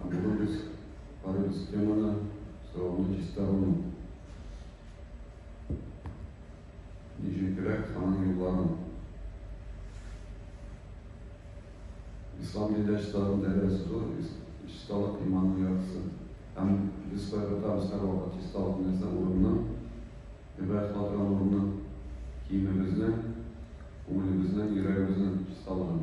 Ә бүген без карыйбыз теманы, соравны чиста гомум. Ничегрәк аның юлларын. Ислам динендә чисталыкның дәрәҗәсе зур, чисталык иманның яртысы. Һәм без кайгыртабыз һәрвакыт чисталыкны нәрсә урынны, гыйбадәт кылган урынны, киемебезне, күңелебезне, йөрәгебезне чисталыгын.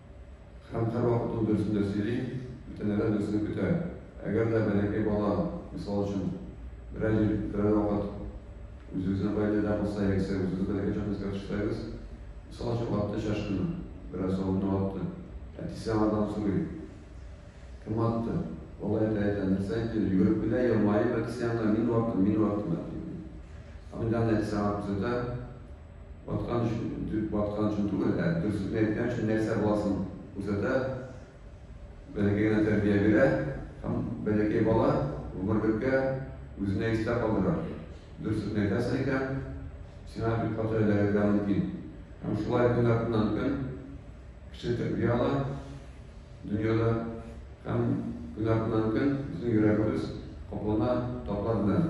Һәм һәрвакыт ул дөресен дә сөйли, бүтәннәрдән дөресен көтә. Әгәр дә бәләкәй бала, мисал өчен, берәр җир, берәр вакыт үзебезнең гаиләдә булса, яисә үзебез бәләкәй чакта искә төшерсәгез, мисал өчен, атты чашкыны, берәр савытны атты, әтисе аңардан сорый, кем атты? Бала әйтә, әйтә, нәрсә инде, йөгереп килә, елмаеп әтисе янына, мин ваттым, мин ваттым, әти. Аның янына әтисе аңа күрсәтә, Баткан өчен, баткан өчен түгел, ә дөресен әйткән өчен нәрсә баласын күрсәтә, бәләкәй генә тәрбия бирә һәм бәләкәй бала гомерлеккә үзенә истә калдыра. Дөресен әйтәсең икән, сиңа бик каты эләгергә мөмкин. Һәм шулай көн артыннан көн кеше тәрбия ала дөньяда һәм көн артыннан көн безнең йөрәгебез каплана татлар белән.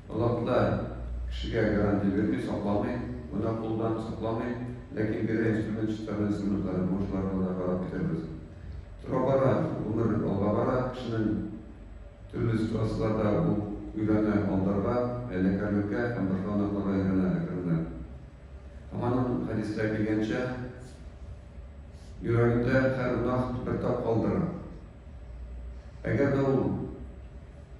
Аллаһ да кешегә гарантия бирми, сакламый, гөнаһ кылудан сакламый, ләкин бирә инструмент чистару инструментлары, бүген шуларны гына карап китәрбез. Тора-бара гомер алга бара, кешенең төрле ситуацияләрдә ул өйрәнә алдарга, хәйләкәрлеккә һәм башка гөнаһларга өйрәнә әкренләп. Һәм аның хәдистә килгәнчә, йөрәгендә һәр гөнаһ бер тап калдыра. Әгәр дә ул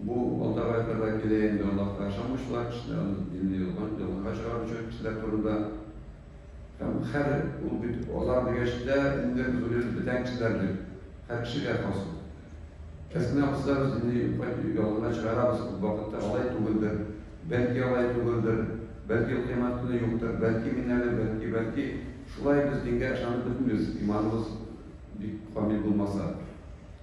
Бу алда кайта да килә инде, Аллаһка ышанмыйчалар кешеләр, аны динне юлдан ялганга чыгаручы кешеләр турында. Һәм хәр ул бит алар дигәч тә инде озулеп бетән кешеләр бит, хәр кешегә хас ул. Әсма кызлар без динне юкка ялганга чыгарабыз, күп вакытта алай түгелдер, бәлки алай түгелдер, бәлки ул кыямәт көне юктыр, бәлки мин әле, бәлки, бәлки шулай без дингә ышанып бетмибез, иманыбыз бик камил булмаса.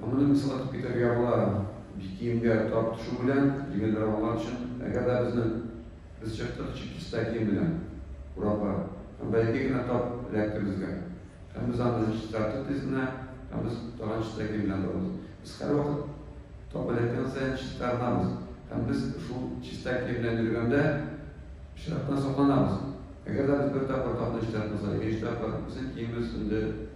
Гомерне кыскартып китәргә була бит киемгә тап төшү белән, җиңелрәк аңлар өчен. Әгәр дә безнең без чыктык чип-чиста кием белән урамга, һәм бәләкәй генә тап эләкте безгә, һәм без аны чистартып тиз генә, һәм без тагын чиста кием белән барабыз. Без һәрвакыт тап эләккән саен чистарынабыз, һәм без шул чиста кием белән йөргәндә пычрактан сакланабыз. Әгәр дә без бер тапкыр тапны чистартмасак, икенче тапкыр безнең киемебез инде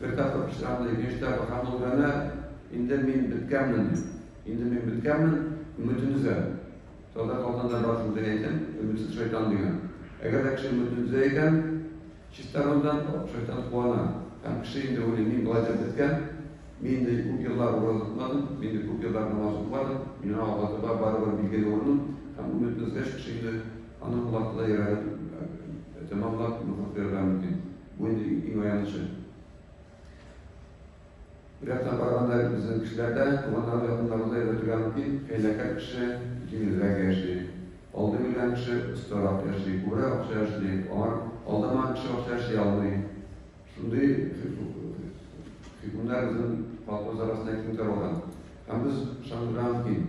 Бер тапкыр пычрангый рәвештә бакан булганда, инде мин беткәнмен, инде мин беткәнмен, өметен өзәм. Татар халкында бар шундый әйтем, өметсез шайтан дигән. Әгәр дә кеше өметен өзә икән, чистарынудан шайтан куана. Һәм кеше инде уйлый, мин болай да беткән, мин инде күп еллар ураза тотмадым, мин инде күп еллар намаз укымадым, миңа Аллаһ Тәгалә барыбер билгели урыным, һәм өметен өзгәч, кеше инде аның колакны да йөрәген тәмамлап нуфык куярга мөмкин. Бу инде иң аянычы. Бер яктан караганда, безнең кешеләр дә туганнары, якыннары да өйрәтергә мөмкин. Хәйләкәр кеше җиңелрәк яши. Алдый белгән кеше остарак яши, күбрәк акча эшли. Аңа алдамаган кеше акча эшли алмый. Шундый хөкемнәр безнең халкыбыз арасында киң таралган. Һәм без ышандырырга мөмкин.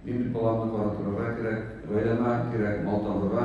Мин бит баламны карап торырга кирәк, гаиләмә кирәк мал табырга.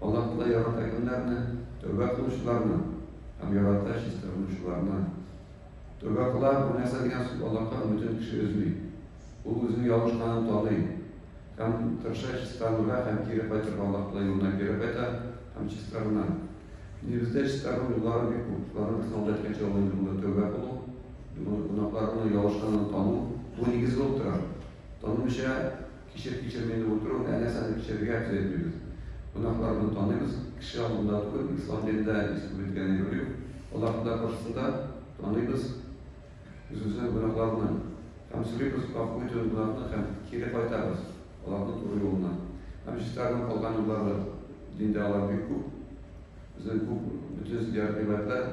Аллаһы ярата кемнәрне? Тәүбә кылучыларны һәм ярата чистарынучыларны. Тәүбә кыла, бу нәрсә дигән сүз Аллаһка өметен кеше өзми. Ул үзенең ялгышканын таный һәм тырыша чистарынырга һәм кире кайтырга Аллаһ юлына кире кайта һәм чистарына. Динебездә чистарыну юллары бик күп. Шуларның берсен алда әйткәнчә ул инде монда тәүбә кылу, гөнаһларының ялгышканын тану, бу нигез булып тора. Танымыйча Кичер-кичерми дә утыру, ә нәрсәдер кичерергә теләмибез. Кунакларны таныйбыз, кеше алдында түгел, ислам динендә исповедгә әйбер юк. Аллаһ Тәгалә каршысында таныйбыз үзебезнең гөнаһларны һәм сорыйбыз гафу итүен гөнаһны һәм кире кайтабыз аларны туры юлына. Һәм чистарынып калган юллары, диндә алар бик күп. Безнең күп, бөтен зиярәт-гыйбадәтләр.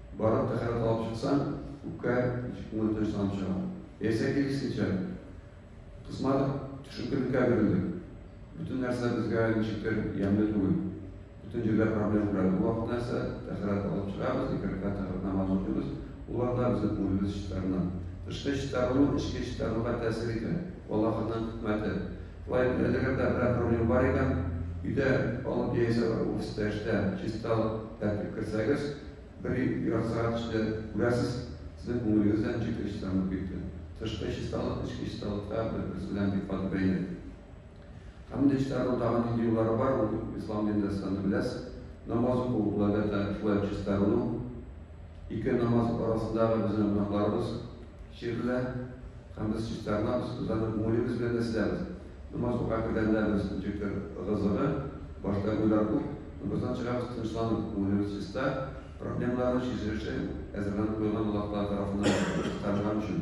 Барып тәһарәт алып чыксаң, үпкә ничек күңел тынычланып чыга. Яисә киресенчә, кысмадык, төшенкелеккә бирелдек. Бөтен нәрсә безгә ничектер ямьле түгел. Бөтен җирдә проблем күрәбез. Бу вакыт нәрсә? Тәһарәт алып чыгабыз, ике рәкәгать тәһарәт намазы укыйбыз. Улар да безнең күңелебез чистарына. Тышкы чистарыну эчке чистарынуга тәэсир итә. Бу Аллаһының хикмәте. Шулай итеп, әгәр дә берәр проблем бар икән, өйдә алып яисә офиста эштә чисталык, тәртип керсәгез, Бер ераксырак төште, күрәсез, сезнең күңелегез дә ничек тынычланып китте. Тышкы чисталык эчке чисталыкка бер-берсе белән бик каты бәйле. Хәмд ишетәрнең тагын нинди юллары бар, ул ислам динендә сез аны беләсез. Намаз уку, ул әлбәттә шулай ук чистарыну. Ике намаз арасындагы безнең гөнаһларыбыз Чирелә һәм без чистарынабыз, үзләренең күңелебез белән дә сизәбез. Намаз укырга кергәндә без ничектер гызыгы, башта уйлар күп, намаздан чыгабыз тынычланып, күңелебез чиста, проблемаларны чишелеше әзерләнеп куйган Аллаһы Тәгалә тарафыннан кызганганчын.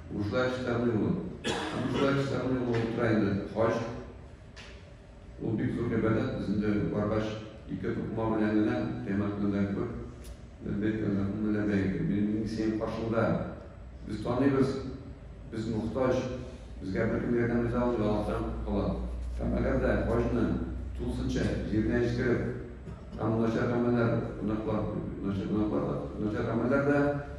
Ужлач Самыйлов. Ужлач Самыйлов украинлы хаҗ. Ул бик зур гыйбадәт, без инде баргач, ике тукма белән генә Кыямәт көненә кебек ләббәйк Аллаһуммә ләббәйк, мин мин синең каршыңда. Без таныйбыз, без мохтаҗ, безгә беркем ярдәм итә алмый, Аллаһтан кала. Һәм әгәр дә хаҗны тулысынча җиренә җиткереп, һәм начар гамәлләр, гөнаһлар, начар гөнаһлар да, начар гамәлләр дә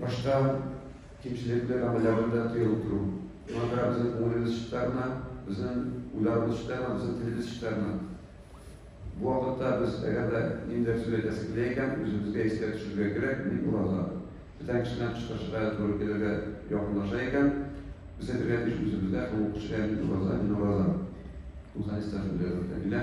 Башта кимчелекле гамәлләрне дә тыя утыру, шуңа күрә безнең күңелебез чистарына, безнең уйларыбыз чистарына, безнең телебез чистарына. Бу вакытта без, әгәр дә ниндидер сүз әйтәсе килә икән, үзебезгә искә төшерергә кирәк, мин ураза. Бүтән кеше белән кычкырышырга һәм туры килергә якынлаша икән, без әйтергә тиеш үзебезгә һәм ул кешегә, мин ураза, мин ураза. Бу хәдистә шундый рәвештә килә.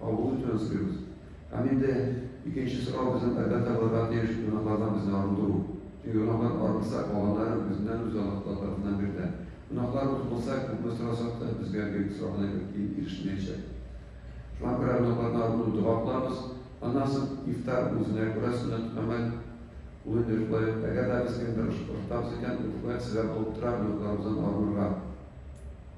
Кабул итүен сорыйбыз. Һәм инде икенче сорау безнең әлбәттә булырга тиеш гөнаһлардан безне арындыру. Чөнки гөнаһлар арынса, калганнары үзеннән үзе Аллаһ Тәгалә тарафыннан бирелә. Гөнаһларыбыз булса, күпме сорасак та, безгә биреп сораган әйбер киң ирешелмәячәк. Шуңа күрә гөнаһлардан арыну дога кылабыз. Аннан соң ифтар үзенә күрә сөннәт гамәл. Ул инде шулай ук, әгәр дә без кемдер ошатабыз икән, ул шулай ук сәбәп булып тора гөнаһларыбыздан арынырга.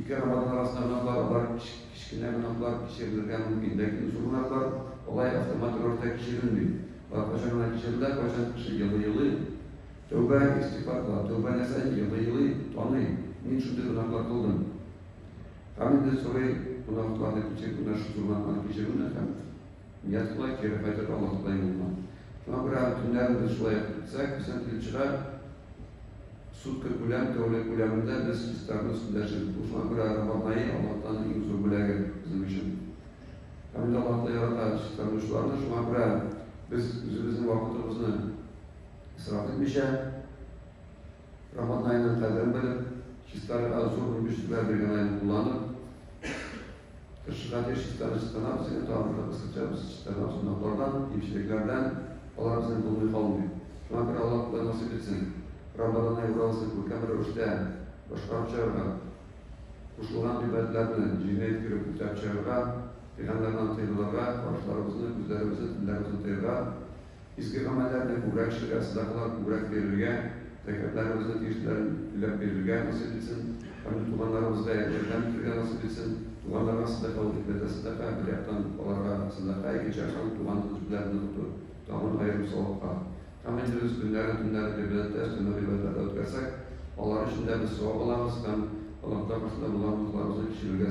Ике рамадан арасында гөнаһлар, алар кечкенә гөнаһлар, кичерелергә мөмкин. Ләкин зур гөнаһлар алай автомат рәвештә кичерелми. Алар кайчан гына кичерелә, кайчан кеше елый-елый тәүбә, истигъфар кыла. Тәүбәне саен елый-елый таный, мин шундый гөнаһлар кылдым. Һәм инде сорый, гөнаһларны кичер, менә шул зур гөнаһларны кичерүне һәм. Ясла, кире кайтыр Аллаһыдай булма. Шуңа күрә аны төннәрен без шулай ук итсәк, безнең тилчыга сутка күләм, тәүлек күләмендә без чистарыну өстендә эшлибез. Бу шуңа күрә Рамазан ае Аллаһтан иң зур бүләге безнең өчен. Һәм инде Аллаһ та ярата чистарынучыларны, шуңа күрә без үзебезнең вакытыбызны исраф итмичә, Рамазан аена кадәр белеп, чистарга зур мөмкинчелекләр биргән айны кулланып, тырышырга тиеш чистаны чистанабыз, егет тагын кысачабыз, чистанабыз гөнаһлардан, кимчелекләрдән, алар безнең булмый калмый. Шуңа күрә Аллаһ Тәгалә насыйп итсен, Рамазан ае уразасын күркәм рәвештә башкарып чыгарга, кушылган гыйбадәтләр белән җиренә иткереп үтәп чыгарга, пиганнардан тыелырга, карашларыбызны, күзләребезне, телләребезне тыярга, Изге гамәлләрне күбрәк эшләргә, сәдакалар күбрәк бирергә, зәкятләребезне тиешлеләрен түләп бирергә насыйп итсен һәм дә туганнарыбызга ярдәм итәргә насыйп итсен. Туганнарга сәдака ул икмәтә сәдака, бер яктан аларга сәдака, икенче яктан туган тел белән ныгыту тагын аерым савапка. Камил дөрес көннәрен, төннәрен гыйбадәттә, сөннә гыйбадәтләрдә үткәрсәк, алар өчен дә без савап алабыз һәм Аллаһы Тәгалә каршында булган гөнаһларыбызны кичерергә